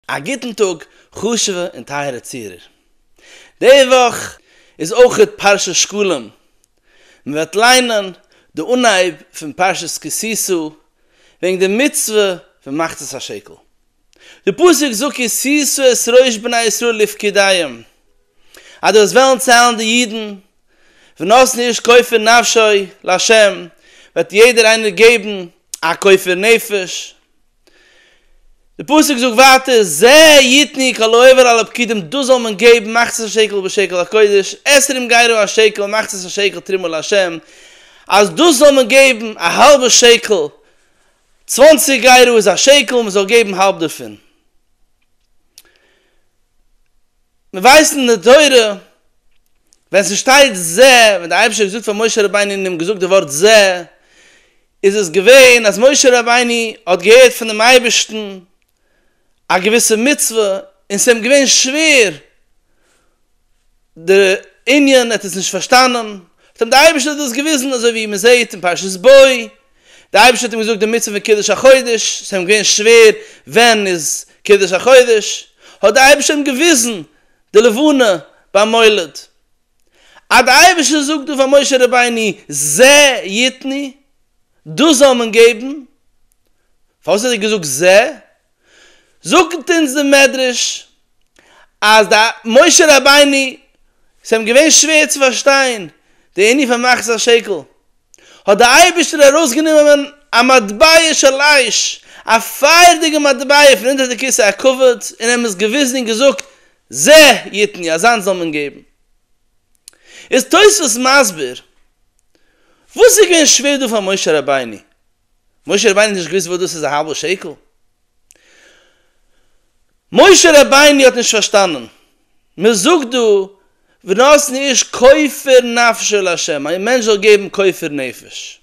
א גוטן טאג חשוב'ע און טייערע צוהערער. די וואך איז אויך פרשת שקלים, מען וועט ליינען די אנהייב פון פרשת כי תשא וועגן די מצוה פון מחצית השקל. די פסוק זאגט כי תשא את ראש בני ישראל לפקידיהם, אז דו וועסט וועלן ציילן די אידן, ונתן איש כופר נפשו לה', וועט יעדער איינער געבן א כופר נפש, די פסוק זאגט ווייטער, זה יתני כל העובר על הפקידים דאס זאל מען געבן מחצית השקל בשקל הקודש, עשרים גיירו השקל מחצית השקל תרומה לה', אז דאס זאל מען געבן א האלבע שקל, צוואנציג גיירו איז א שקל, מען זאל געבן האלב דערפון. מיר ווייסן אין די תורה ווען ס'שטייט זה, ווען דער אייבערשטער האט געזאגט פאר משה רבינו און אים געזאגט די ווארט זה, איז עס געווען אז משה רבינו האט געהערט פונעם אייבערשטן א געוויסע מצוה און ס'איז אים געווען שווער די ענין, ער האט עס נישט פארשטאנען, האט אים דער אייבערשטער דאס געוויזן, אזוי ווי מען זעט אין פרשת בא, דער אייבערשטער האט אים געזאגט די מצוה פון קידוש החודש, ס'איז אים געווען שווער ווען איז קידוש החודש, האט דער אייבערשטער אים געוויזן די לבנה ביים מולד, אז דער אייבערשטער זאגט דא פאר משה רבינו זע יתני, דאס זאל מען געבן, פארוואס האט ער געזאגט זע? זאגט אונז דער מדרש אז דער משה רבינו, ס'איז אים געווען שווער צו פארשטיין די ענין פון מחצית השקל, האט דער אייבערשטער ארויסגענומען א מטבע של אש, א פייערדיגע מטבע פון אונטער די כסא הכבוד, און אים עס געוויזן און געזאגט זע יתני אז אנס זאל מען געבן. איז תוספות מסביר וואס איז געווען שווער דא פאר משה רבינו? משה רבינו האט נישט געוואוסט וואס דאס איז א האלבע שקל? משה רבינו האט נישט פארשטאנען? מען זאגט דא ונתן איש כופר נפשו לה' א מענטש זאל געבן כופר נפש.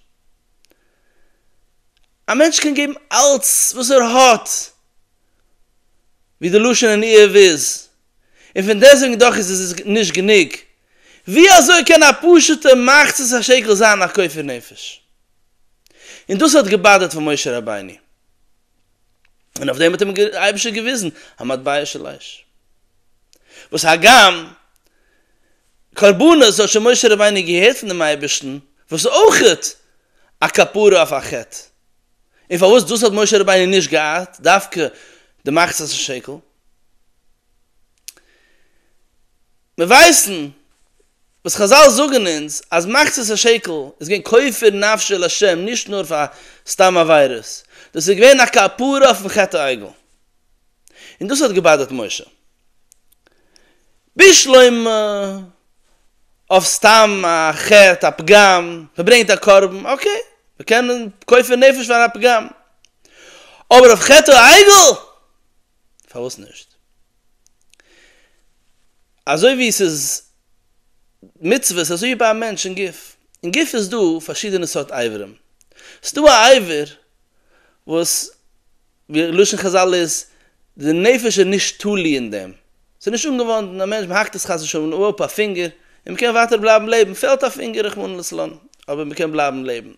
א מענטש קען געבן אלץ וואס ער האט. ווי די לשון אין איוב איז, און פון דעסוועגן דאך איז עס נישט גענוג, ווי אזוי קען א פשוטע מחצית השקל זיין א כופר נפש? און דאס האט געבאדערט פון משה רבינו, און אויף דעם האט אים דער אייבערשטער געוויזן א מטבע של אש, וואס הגם קרבנות האט שוין משה רבינו געהערט פון דעם אייבערשטן, וואס איז אויך א כפרה אויף א חטא. און פארוואס דאס האט משה רבינו נישט געהאט, דווקא די מחצית השקל? מיר ווייסן וואס חזל זאגן אונז אז מחצית השקל איז געווען כופר נפשו לשם נישט נאר פאר סתם עבירות, דאס איז געווען א כפרה אויפן חטא העגל, און דאס האט געבאדערט משה. בשלמא אויף סתם א חטא א פגם, מ'ברענגט א קרבן, אקעי, מ'קען קויפן נפש פאר א פגם, אבער אויף חטא העגל? פארוואס נישט? אזוי ווי ס'איז מצוות אזוי איז ביי א מענטש אין גוף, אין גוף איז דא פארשידענע סארט אברים, ס'דא א עבר וואס ווי לשון חזל איז, די נפש איז נישט תלוי אין דעם, ס'איז נישט אנגעוואנדן, א מענטש מ'האקט עס חס ושלום אפ א פינגער, און מ'קען ווייטער בלייבן לעבן, פעלט א פינגער רחמנא לצלן, אבער מ'קען בלייבן לעבן.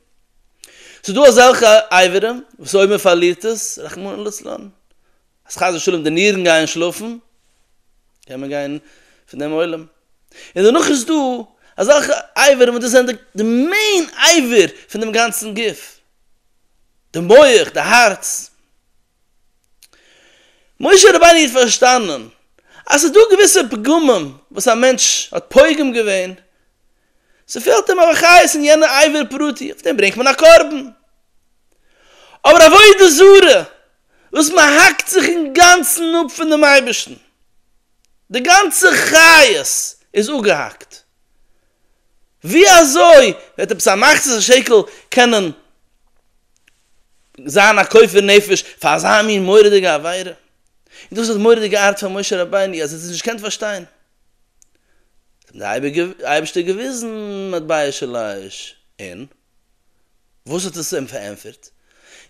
ס'איז דא אזעלכע אברים וואס אויב מ'פארלירט עס, רחמנא לצלן, אז חס ושלום די נירן גייען שלאפן, קען מען גיין פון דעם עולם. און דערנאך איז דא אזעלכע אברים וואס דאס זענען די מעין אבר פון דעם גאנצן גוף. די מח, די הארץ. משה רבינו האט פארשטאנען אז ס'איז דא געוויסע פגמים וואס א מענטש האט פוגם געווען, ס'פעלט אים אבער חיות אין יענע איבר פרטי, אויף דעם ברענגט מען א קרבן. אבער עבודה זרה וואס מען האקט זיך אינגאנצן אפ פונעם אייבערשטן, די גאנצע חיות איז אפגעהאקט, ווי אזוי וועט עפעס א מחצית השקל קענען זיין א כופר נפש פאר אזא מין מורא'דיגע עבירה? און דאס איז די מורא'דיגע ארט פון משה רבינו אז ער האט עס נישט געקענט פארשטיין, האט אים דער אייבערשטער געוויזן מטבע של אש און. וואס האט עס אים פארענטפערט?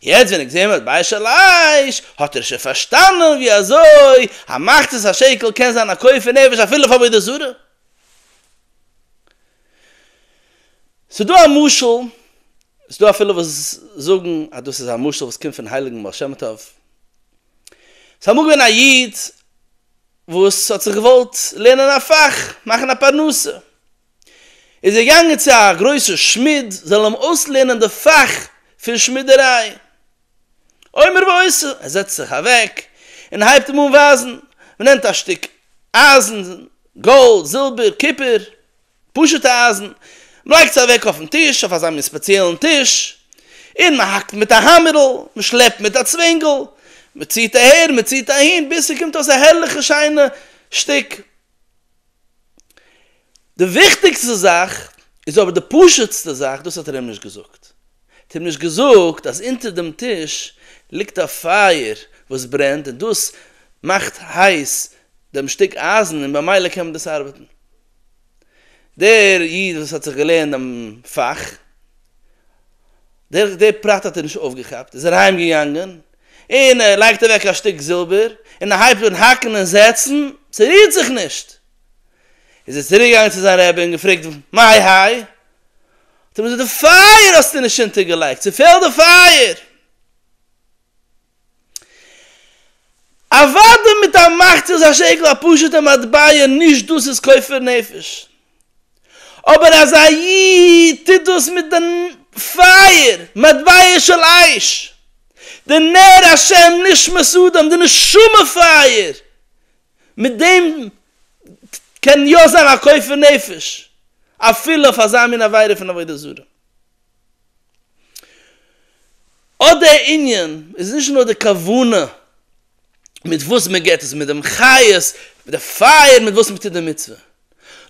יעצט ווען ער האט געזען וואס בית שלש האט ער שוין פארשטאנען ווי אזוי א מחצית השקל קען זיין א כופר נפש אפילו אויף עבודה זרה. ס'איז דא א משל, ס'איז דא אפילו וואס זאגן אז דאס איז א משל וואס קומט פון הייליגן בעל שם טוב. ס'איז אמאל געווען א איד וואס האט זיך געוואלט לערנען א פאך, מאכן א פרנסה. איז ער געגאנגען צו א גרויסע שמיד זאל אים אויסלערנען די פאך פון שמידעריי. אומר ועושה, ער זעצט זיך אוועק און הייבט אים אן ווייזן, מען נעמט א שטיק אייזן, גאלד, זילבער, קופער, פשוטע אייזן, מען לייגט עס אוועק אויפן טיש, אויף אזא מין ספעציעלן טיש, און מען האקט מיט א האמערל, מען שלעפט מיט א צווענגל, מען ציט אהער, מען ציט אהין, ביז ס'קומט אויס א הערליכע שיינע שטיק. די וויכטיגסטע זאך איז אבער די פשוט'סטע זאך, דאס האט ער אים נישט געזאגט. ער האט אים נישט געזאגט אז אונטער דעם טיש ליגט א פייער וואס ברענט און דאס מאכט הייס דעם שטיק אייזן און במילא קען מען דאס ארבעטן. דער איד וואס האט זיך געלערנט דעם פאך, דער פרט האט ער נישט אויפגעכאפט, איז אריינגעגאנגען און און ער לייגט אוועק א שטיק זילבער, און ער הייבט אן האקן און זעצן, ס'רירט זיך נישט! איז ער צוריקגעגאנגען צו זיין רעבע און געפרעגט מאי האי? האט ער אים געזאגט די פייער האסטו נישט אונטערגעלייגט, ס'פעלט די פייער! אוודאי מיט א מאכט איז השקל א פשוט'ע מטבע, נישט דאס איז כופר נפש. אבער אז א איד טוט דאס מיט די פייער, מטבע של אש, די נר השם נשמת אדם, די נשמה פייער, מיט דעם קען יא זיין א כופר נפש אפילו אויף אזא מין עבירה פון עבודה זרה. אט דער ענין איז נישט נאר די כוונה. מיט וואס מען געט עס, מיט דעם חיות, מיט די פייער מיט וואס מען טוט די מצוה.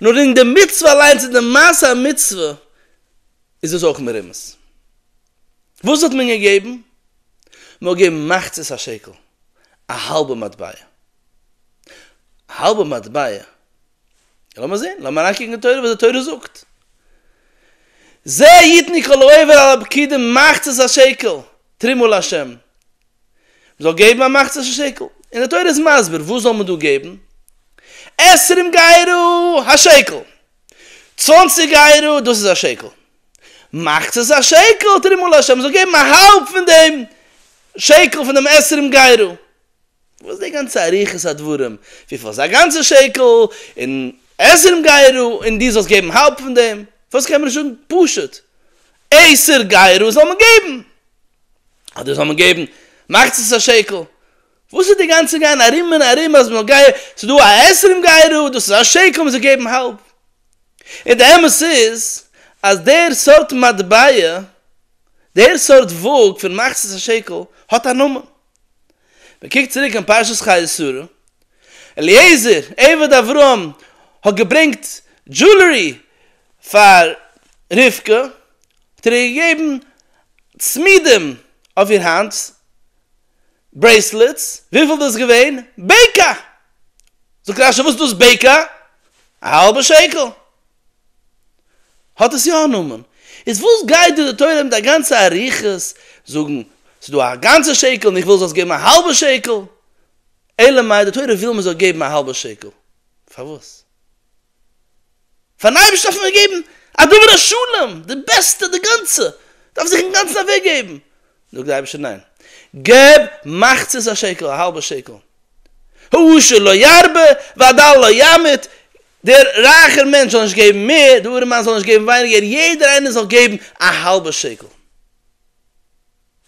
נאר אין די מצוה אליינס, אין די מעשה המצוה, איז דאס אויך מרומז. וואס האט מען געגעבן? מען האט געגעבן מחצית השקל, א האלבע מטבע. א האלבע מטבע, לאמיר זען, לאמיר אריינקוקן אין תורה וואס די תורה זאגט. זה יתני כל העובר על הפקידים מחצית השקל, תרומה לה'. מ'זאל געבן א מחצית השקל, און די תורה איז מסביר וואס זאל מען דא געבן, עשרים גיירא, א שקל, צוואנציג גיירא, דאס איז א שקל, מחצית השקל תרומה לה', מ'זאל געבן א האלב פון דעם שקל פון דעם עשרים גיירא, וואס די גאנצע אריכות הדברים, וויפיל איז א גאנצע שקל, און עשרים גיירא, און דו זאלסט געבן האלב פון דעם, פארוואס קען מען נישט זאגן פשוט, עשר גיירא זאל מען געבן, אדער זאל מען געבן מחצית השקל? וואס איז די גאנצע גיין ארום און ארום אז מ'זאל גיי ס'איז דא א עשרים גייערא דאס איז א שקל מ'זאל געבן האלב? און די אמת איז אז דער סארט מטבע, דער סארט וואג פון מחצית השקל האט א נאמען. מ'קוקט צוריק אין פרשת חיי שרה, אליעזר עבד אברהם האט געברענגט דזשולערי פאר רבקה, האט ער איר געגעבן צמידים אויף איר האנט, ברעיסלעטס, וויפיל דאס געווען? בעיקע! זאגט רשי וואס איז דאס בעיקע? א האלבע שקל! האט עס יא א נאמען. איז וואס גייט דיר די תורה מיט א גאנצע אריכות זאגן ס'איז דא א גאנצע שקל און איך וויל זאלסט געבן א האלבע שקל? אלא מאי די תורה וויל מ'זאל געבן א האלבע שקל. פארוואס? פארן אייבערשטן דארף מען זיך געבן א דבר השלם, די בעסטע, די גאנצע, דארף זיך אינגאנצן אוועק געבן, זאגט דער אייבערשטער ניין, געב מחצית השקל, א האלבע שקל, העושר לא ירבה והדל לא ימעיט, דער רייכער מענטש זאל נישט געבן מער, דער ארעמאן זאל נישט געבן ווייניגער, יעדער איינער זאל געבן א האלבע שקל.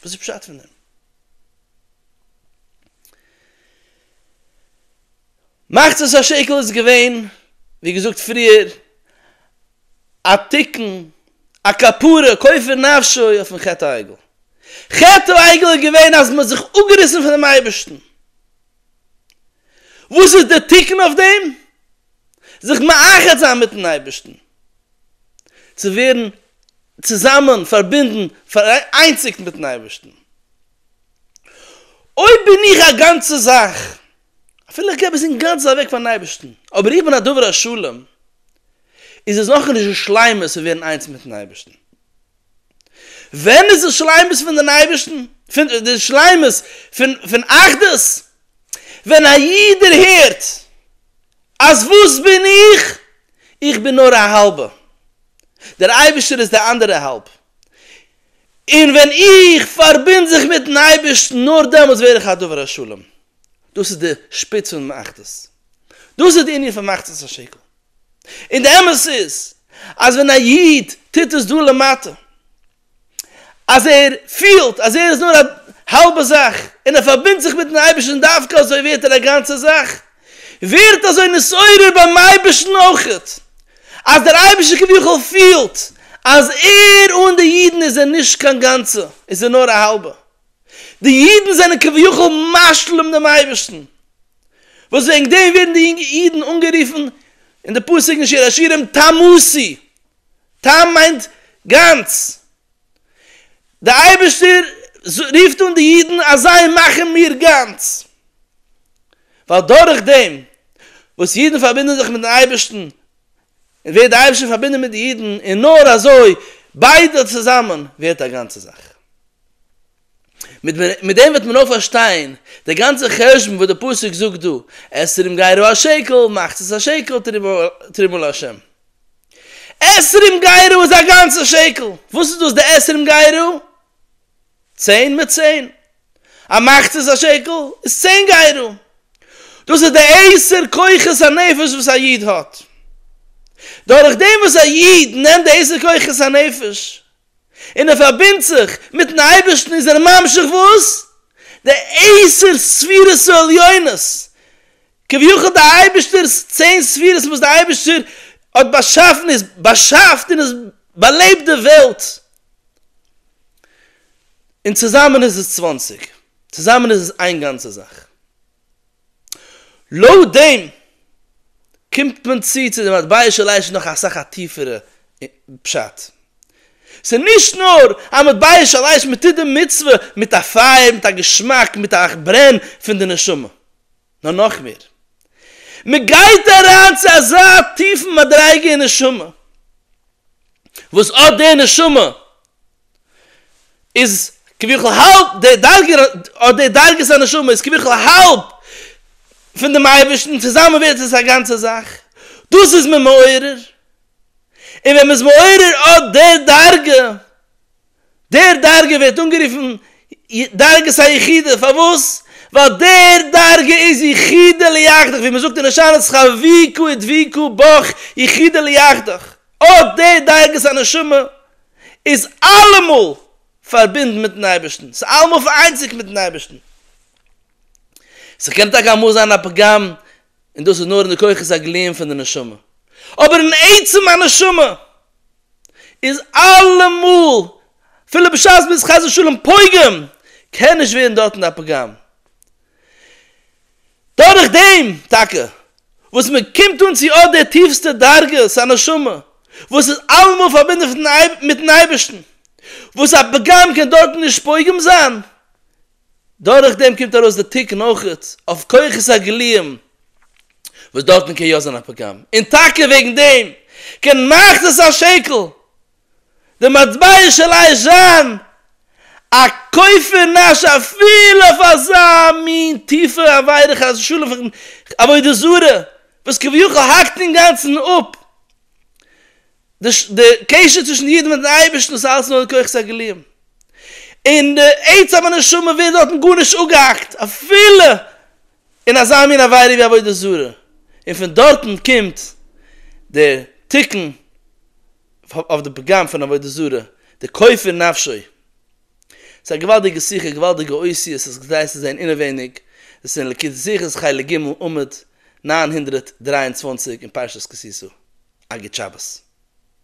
וואס איז פשט פון דעם? מחצית השקל איז געווען, ווי געזאגט פריער, א תיקון, א כפרה, כופר נפשו אויפן חטא העגל. חטא העגל איז געווען אז מ'האט זיך אפגעריסן פונעם אייבערשטן. וואס איז דער תיקון אויף דעם? זיך מאחד זיין מיטן אייבערשטן. צו ווערן צוזאמען פארבינדן, פאראיינציגט מיט'ן אייבערשטן. אויב בין איך א גאנצע זאך, אפילו איך געב עס אינגאנצן אוועק פאר'ן אייבערשטן, אבער איך בין א דובר השלום, איז עס נאכנישט די שלימות פון ווערן איינס מיט'ן אייבערשטן. ווען איז די שלימות פונעם אייבערשטן, די שלימות פון אחדות? ווען א איד דערהערט אז וואס בין איך? איך בין נאר א האלבע, דער אייבערשטער איז די אנדערע האלב, און ווען איך פארבינד זיך מיט'ן אייבערשטן נאר דעמאלטס ווער איך א דובר השלום, דאס איז די שפיץ פונעם אחדות, דאס איז די ענין פון מחצית השקל. און די אמת איז אז ווען א איד טוט עס דא למטה, אז ער פילט אז ער איז נאר א האלבע זאך און ער פארבינדט זיך מיטן אייבערשטן דווקא אזוי ווערט ער א גאנצע זאך, ווערט אזוי נתעורר ביים אייבערשטן אויך, אז דער אייבערשטער כביכול פילט אז ער אן די אידן איז ער נישט קיין גאנצע, איז ער נאר א האלבע. די אידן זענען כביכול משלים דעם אייבערשטן, וואס וועגן דעם ווערן די יונגע אידן אנגערופן אין די פסוק אין שיר השירים תמוסי, תם מיינט גאנץ, די אייבערשטער רופט אן די אידן אז זיי מאכן מיר גאנץ, ווייל דורך דעם וואס אידן פארבינדן זיך מיטן אייבערשטן ווערט די אייבערשטער פארבינדן מיט די אידן און נאר אזוי ביידע צוזאמען ווערט א גאנצע זאך. מיט דעם וועט מען אויך פארשטיין די גאנצע חשבון וואס די פסוק זאגט דא, עשרים גיירו א שקל, מאכטס עס א שקל, תרומה לה'. עשרים גיירו איז א גאנצע שקל! וואס איז דאס די עשרים גיירו? צען מיט צען. א מאכטס עס א שקל איז צען גיירו. דאס איז די עשר כוחות הנפש וואס א איד האט. דורך דעם וואס א איד נעמט די עשר כוחות הנפש, און ער פארבינדט זיך מיטן אייבערשטן איז ער ממשיך וואס די עשר ספירות העליונות, כביכול די אייבערשטער'ס צען ספירות וואס די אייבערשטער האט באשאפן איז באשאפט און עס באלעבט די וועלט, און צוזאמען איז עס צוואַנציק, צוזאמען איז עס איין גאנצע זאך. לויט דעם קומט מען צו צו די מטבע של עיי ש נאך אסאך א טיפערע פשט. ס'איז נישט נאר א מטבע של עיי ש, מ'טוט די מצוה מיט א פייער, מיט א געשמאק, מיט א ברען פון די נשמה. נאר נאך מער. מ'גייט אריין צו אזא טיפן מדריגה אין נשמה, וואס אט דער נשמה איז כביכול האלב די דרגה אדער די דרגת הנשמה איז כביכול האלב פון דעם אייבערשטן צוזאמען ווערט עס א גאנצע זאך, דאס איז מען מעורר, און ווען מען איז מעורר אט די דרגה, די דרגה ווערט אנגערופן דרגת היחידה, פארוואס? ווייל די דרגה איז יחידה ליחידה, ווי מען זאגט אין הושענא צ ח ווי ק און ווי ק בח יחידה ליחידה, אט די דרגת הנשמה איז אלעמאל פארבינדן מיטן אייבערשטן, ס'איז אלעמאל פאראיינציגט מיטן אייבערשטן. ס'קען טאקע אמאל זיין א פגם, און דאס איז נאר אין די כוחות הגלויים פון די נשמה, אבער אין עצם הנשמה איז אלעמאל, אפילו בשעת מ'איז חס ושלום פוגם, קען נישט ווערן דארטן א פגם. דורך דעם טאקע וואס מען קומט אן צו אט די טיפסטע דרגות הנשמה וואס איז אלעמאל פארבינדן מיטן אייבערשטן, וואס א פגם קען דארטן נישט פוגם זיין, דורך דעם קומט ארויס די תיקון אויך אויף כוחות הגלויים וואס דארטן קען יא זיין א פגם, און טאקע וועגן דעם קען מאכט עס א שקל די מטבע של הישן, א כופר נפש אפילו אויף אזא מין טיפע עבירה חס ושלום פון עבודה זרה וואס כביכול האקט אינגאנצן אפ די קשר צווישן די אידן מיטן אייבערשטן וואס איז אלעס נאר די כוחות הגלויים און די עצם הנשמה ווערט דארטן גארנישט אפגעהאקט אפילו אין אזא מין עבירה ווי עבודה זרה און פון דארטן קומט דער תיקון אויף די פגם פון עבודה זרה, די כופר נפשו. ס'איז א געוואלדיגע שיחה, א געוואלדיגע אויסי, עס איז כדאי צו זען אינעווייניג, עס איז אין ליקוטי שיחות חלק ג' עמוד נײַן הונדערט דרײַ און צוואַנציק אין פרשת כי תשא. א גוט שבת.